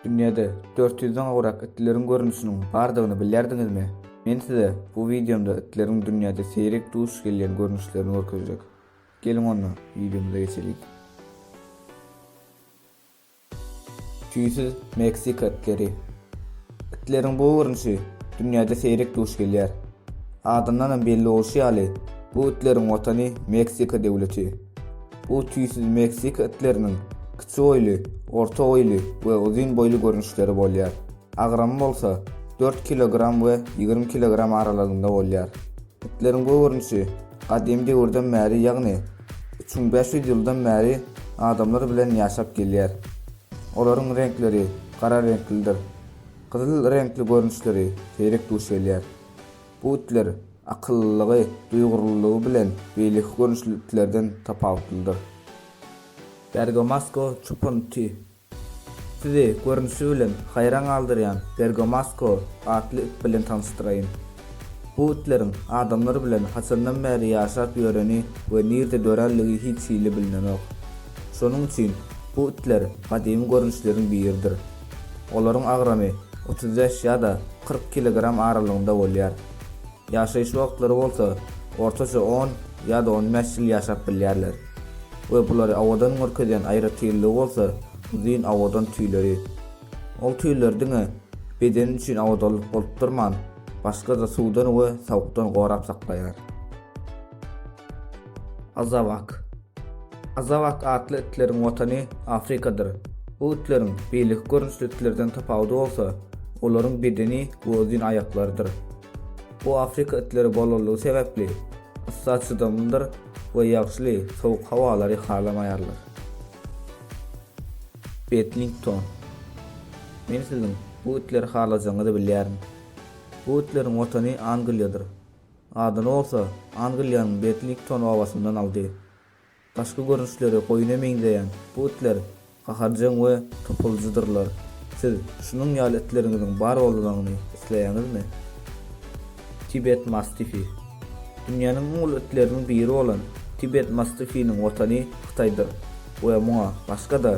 Dünýäde 400-den gowrak itleriň görnüşiniň bardygyny bilýärdiňizmi? Men size bu wideomda itleriň dünýäde seýrek duş gelýän görnüşlerini görkezjek. Geliň onda, wideomyza geçeliň. Tüýsüz Meksika itleri. Itleriň bu görnüşi dünýäde seýrek duş gelýär. Adyndanam belli bolşy ýaly, bu itleriň watany Meksika döwleti. Bu tüýsüz Meksika itleriniň kiçi boýly, orta boýly we uzyn boýly görnüşleri bolýar. Agramy bolsa dört kilogram we ýigrimi kilogram aralygynda bolýar. Itleriň bu görnüşi gadymy döwürden bäri, ýagny üç müň bäş ýüz ýyldan bäri adamlar bilen ýaşap gelýär. Olaryň reňkleri gara reňklidir. Gyzyl reňkli görnüşleri seýrek duş gelýär. Bu itler akyllylygy, duýgurlylygy bilen beýleki görnüşli itlerden tapawutlydyr. Bergamasco çopan iti Sizi, görnüşi bilen, haýran galdyrýan Bergamasco atly it bilen tanyşdyraýyn. Bu itleriň adamlar bilen haçandan bäri ýaşap ýöreni we nirde dörändigi hiç hili bilnenok. Şonuň üçin bu itler gadymy görnüşleriň biridir. Olaryň agramy otuz bäş ýa-da kyrk kilogram aralygynda bolýar. Ýaşaýyş wagtlary bolsa ortaça on ýa-da on bäş ýyl ýaşap bilýärler we bulary awadan görkezýän aýratynlygy bolsa uzyn awadan tüýleri. Ol tüýler diňe bedeni üçin awadanlyk bolup durman, başga-da suwdan we sowukdan gorap saklaýar. Azawak. Azawak atly itleriň watany Afrikadyr. Bu itleriň beýleki görnüşli itlerden tapawudy bolsa olaryň bedeni we uzyn aýaklarydyr. Bu afrika itleri bolanlygy sebäpli yssa çydamlydyr we ýagşyly, sowuk howalary halamaýarlar. Bedlington. Men siziň bu itleri halajagyňyzy bilýärin. Bu itleriň watany Angliýadyr. Adyny bolsa Angliýanyň Bedlington obasyndan aldy. Daşky görnüşleri goýuna meňzeýän bu itler gaharjaň we topuljydyrlar. Siz şunuň ýaly itleriňiziň bar bolmagyny isleýäňizmi? Tibet mastifi. Dünýäniň iň uly itleriniň biri bolan tibet mastifiniň watany Hytaýdyr we muňa başga-da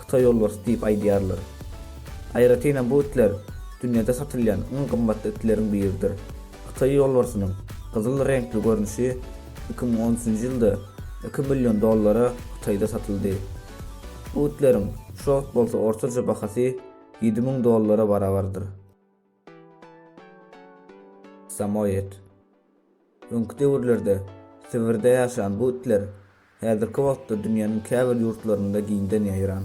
Hytaý ýolbarsy diýip aýdýarlar. Aýratyn hem bu itler dünýäde satylýan iň gymmatly itleriň biridir. Hytaý ýolbarsynyň gyzyl reňkli görnüşi iki müň on üçünji ýylda iki million dollara Hytaýda satyldy. Butleriň şu wagt bolsa ortaça bahasy ýedi müň dollara barabardyr. Samoýed. Öňki döwürlerde Sibirde ýaşan bu itler häzirki wagtda dünýäniň käbir ýurtlarynda giňden ýaýran.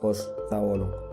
Hoş, sag boluň.